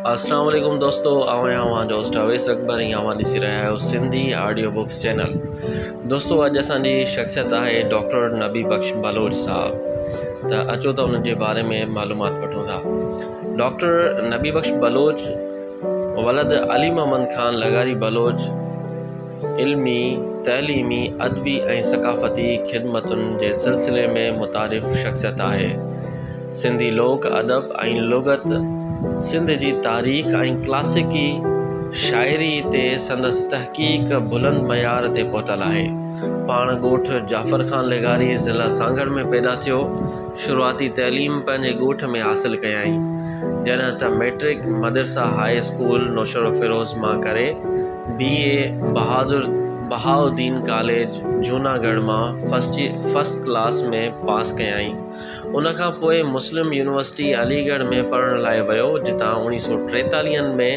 اسلام عليڪم دوستو آئون آهيان اوهان جو هوسٽ اويس اڪبر ۽ اوهان ڏسي رهيا آهيو سنڌي آڊيو بڪس چينل دوستو اڄ اسان جي شخصيت آهي ڊاڪٽر نبي بخش بلوچ صاحب ته اچو ته انهن جي باري ۾ معلومات وٺون ٿا ڊاڪٽر نبي بخش بلوچ ولد علي محمد خان لغاري بلوچ علمي تعليمي ادبي ۽ ثقافتي خدمتن جي سلسلي ۾ متعارف شخصيت آهي سنڌي لوڪ ادب ۽ لغت، سنڌ جي تاريخ ۽ ڪلاسيڪي شاعريء تي سندس تحقيق بلند معيار تي پهتل آهي. پاڻ ڳوٺ جعفر خان لغاري، ضلع سانگهڙ ۾ پيدا ٿيو. شروعاتي تعليم پنهنجي ڳوٺ ۾ حاصل ڪيائين. جڏهن ته مئٽرڪ مدرسه هاء اسڪول نوشهروفيروز مان ڪري، بي. اي بهادر بهاءالدين ڪاليج جهوناڳڙهه مان فرسٽ ڪلاس ۾ پاس ڪيائين. ان کان پوء مسلم يونيورسٽي علي ڳڙهه ۾ پڙهڻ لاء ويو جتان اوڻيهه سؤ ٽيتاليهه ۾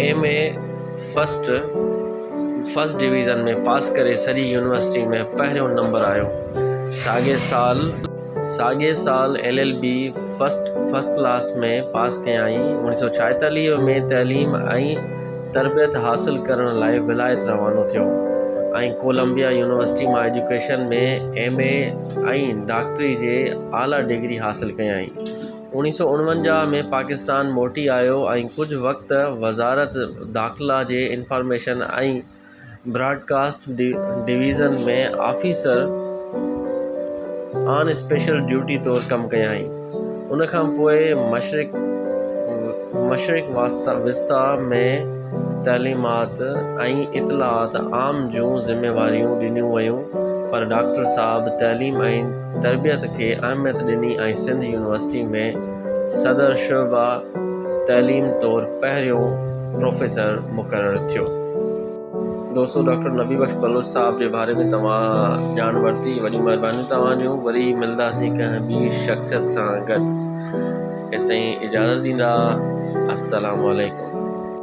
M A first first division ۾ pass ڪري سڄي يونيورسٽي ۾ پهريون نمبر آيو ساڳئي سال ساڳئي سال L L B first first class ۾ pass ڪيائين اوڻيهه سؤ ڇاهيتاليهه ۾ تعليم ۽ تربيت حاصل ڪرڻ لاء ولايت روانو ٿيو ۽ ڪولمبيا يونيورسٽي مان ايجوڪيشن ۾ ايم اي ۽ ڊاڪٽري جي اعليٰ ڊگري حاصل ڪيائين اوڻيھ سؤ اڻونجاھ ۾ پاڪستان موٽي آيو ۽ ڪجهه وقت وزارت داخلا جي information ۽ broadcast division ۾ officer on special duty طور ڪم ڪيائين. ان کان پوء مشرق مشرق وسطيٰ ۾ تعليمات ۽ اطلاعات عام جون ذميواريون ڏنيون ويون پر ڊاڪٽر صاحب تعليم ۽ تربيت کي اهميت ڏني ۽ سنڌ يونيورسٽي ۾ صدر شعبه تعليم طور پهريون پروفيسر مقرر ٿيو. دوستو ڊاڪٽر نبي بخش بلوچ صاحب جي باري ۾ توهان ڄاڻ ورتي وڏيون مهربانيون توهان جون وري ملنداسين ڪنهن ٻي شخصيت سان گڏ تيستائين اجازت ڏيندا السلام عليڪم.